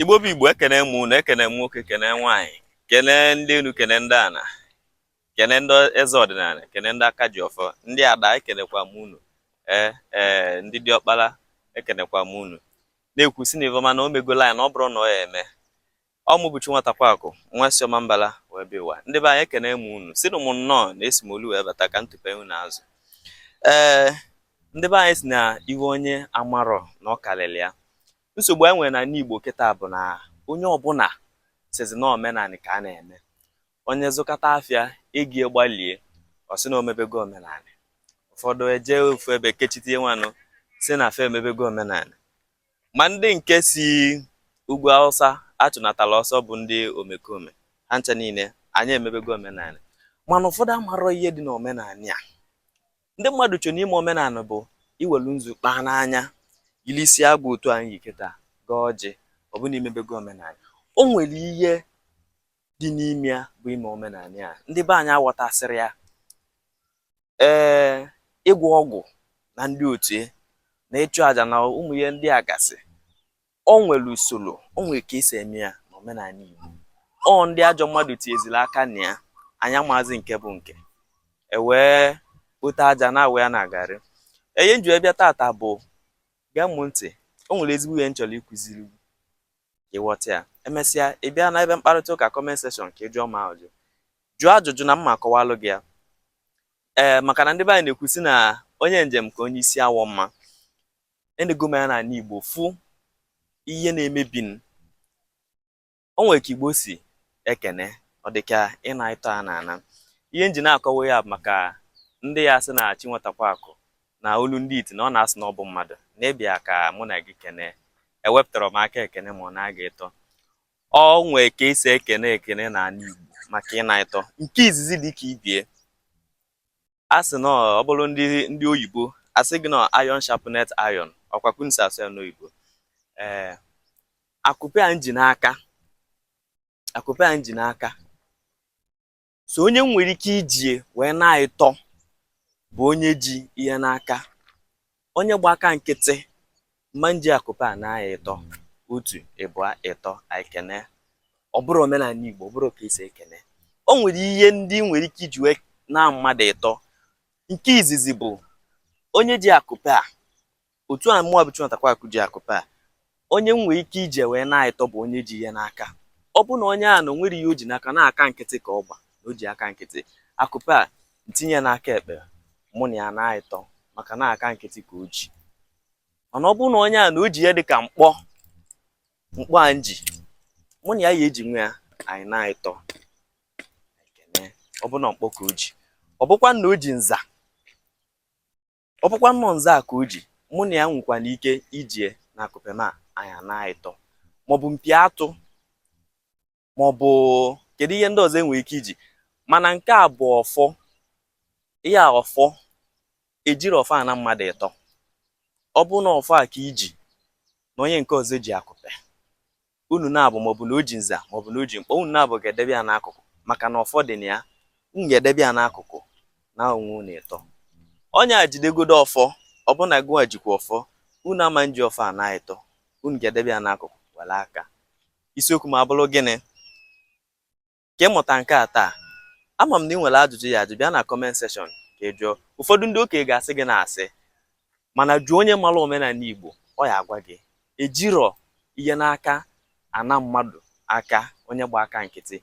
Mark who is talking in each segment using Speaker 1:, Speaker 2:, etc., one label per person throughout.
Speaker 1: igbo bụ igbo ekene m unu ekene m nwoke kene nwaanyị kene ndị enu kene ndị ana kene ndị eze ọdịnana kene ndị aka ji ọfọ ndị ada ekenekwa m unu ee ee ndị diọkpala ekenekwa m unu na-ekwu si na ive ọma na o megola ya na ọ bụrụ na ọ ya-eme Ọ mụ bụ Chinwatakwaakụ, nwa si Ọmambala wee bịa ụwa. Ndị be anyị ekene m unu, sịnụ m nnọọ na esi m olu wee bata ka ntụpe unu azụ. Ee, ndị be anyị si na ihe onye amarọ na ọ kalịlị ya. Nsogbu anyị nwere n'ala Igbo kịta bụ na onye ọbụla sịzi na omenanị ka a na-eme. Onye zụkata afịa, ego ya gbalie, ọ sị na o mebego omenanị. Ụfọdụ ejee ofu ebe kechitie nwanụ sị na fa emebego omenanị. Ma ndị nke si ugwu Hausa achụnatala ọsọ bụ ndị omekome. Ha ncha niile, anyị emebego omenala. Mana ụfọdụ amarọ ihe dị n'omenanị a. Ndị mmadụ cho na ime omenanị bụ iwelu nzu kpaa n'anya, yiri isi agụ otu anyị yi kịta, gọọ ọjị, ọ bụ na i mebego omenala. O nwere ihe dị n'ime ya bụ ime omenala a. Ndị be anyị aghọtasịrọ ya. ee ịgwọ ọgwụ na ndị otu ya na ịchụ aja na ụmụ ihe ndị a gasị o nwere usoro o nwere ka e si eme ya n'omenala Igbo ọ ndị ajọ mmadụ tinyeziri aka na ya anyị amaazị nke bụ nke e wee kpote aja na-awụ ya na garị ihe m ji wee bịa tata bụ gee m ntị o nwere ezigbo ihe m chọrọ ịkụziri ka ị ghọta ya e mesịa ị bịa na ebe mkparịta ụka comment section ka ị jụọ m ajụjụ jụọ ajụjụ na m ma-akọwalụ gị ya ee maka na ndị be anyị na-ekwu si na onye njem ka onye isi awọ mma enego m ya n'ala Igbo fụ ihe na-emebi o nwere ka Igbo si ekene ọ dị ka ịna ịtọ a na-ana ihe m ji na-akọwa ya bụ maka ndị ya-asị na chinwatakwaakụ na olu ndị iti na ọ na-asị na ọ bụ mmadụ na ị bịa ka mụ na gị kene ewepụtarọ m aka ekene ma ọ naa gị ịtọ o nwee ka e si ekene ekene na ala Igbo maka ịna ịtọ nke izizi dị ka ibie a sị na ọ bụrụ ndị ndị oyibo asị gị na iron sharpeneth iron ọ kwa ka unu si asụ ya n'oyibo ee akupe a m ji n'aka akupe a m ji n'aka so onye m nwere ike iji ya wee na ịtọ bụ onye ji ihe n'aka onye gba aka nkịtị m ma-eji akupe a na ya ịtọ otu ịbụa ịtọ anyị ekene ọ bụrụ omenala Igbo ọ bụrụ ka e si ekene o nwere ihe ndị nwere ike iji wee na mmadụ ịtọ nke izizi bụ onye ji akupe a Otu a mụwa bụ Chinwatakwakụ ji akụpe a, onye m nwere ike iji wee naa ịtọ bụ onye ji ihe n'aka. Ọ bụrụ na onye ahụ na o nwerọ ihe o ji n'aka, na aka nkịtị ka ọ gba, na o ji aka nkịtị, akụpe a, m tinye ya n'aka ekpe, mụ na ya naa ịtọ maka na aka nkịtị ka o ji. Mana ọ bụrụ na onye ahụ na o ji ihe dị ka mkpọ, mkpọ a m ji, mụ na ya ya eji nwe ya, anyị naa ịtọ. Ọ bụrụ na mkpọ ka o ji, ọ bụkwa na o ji nza, ọ bụkwa nnọọ nza a ka o ji mụ na ya nwekwana ike ijie na akụpe ma anyị naa ịtọ maọbụ mpi atụ maọbụ kedu ihe ndị ọzọ enwere ike iji mana nke a bụ ọfọ ihe a ọfọ ejirọ ọfọ ana mmadụ ịtọ ọ bụrụ na ọfọ a ka i ji na onye nke ọzọ ji akụpe Unu naabọ, maọbụ na o ji nza, maọbụ na o ji mkpọ, unu naabọ ga-edebe ya n'akụkụ, maka na ọfọ dị na ya. Unu ga-edebe ya n'akụkụ, naa onwe unu ịtọ. Onye a jidegodu ọfọ, ọ bụrụ na gụwa jikwa ọfọ, unu ama nji ọfọ a naa ịtọ, unu ga-edebe ya n'akụkụ, were aka. Isiokwu m abụrụ gịnị? ka ị mụta nke a taa ama m na ị nwere ajụjụ ị ya ajụ bịa na comment section ka ị jụọ ụfọdụ ndị okenye ga-asị gị na asị mana jụọ onye mara omenala Igbo ọ ya agwa gị ejirọ ihe n'aka ana mmadụ aka onye gba aka nkịtị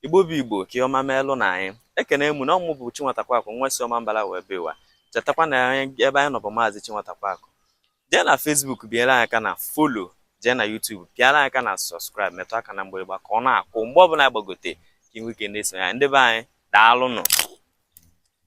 Speaker 1: igbo bụ igbo ka ọma meelụ na anyị ekene mụ na ọ mụ bụ Chinwatakwakụ nwa si Ọmambala wee bịa ụwa chetakwa na ebe anyị nọ bụ maazị Chinwatakwakụ jee na Facebook pịara anyị aka na follow jee na YouTube pịara anyị aka na subscribe metụ aka na mgbịrịgba ka ọ na-akụ mgbe ọbụla agbagote ka ị nwee ike na-esonye anyị ndị be anyị daalụnụ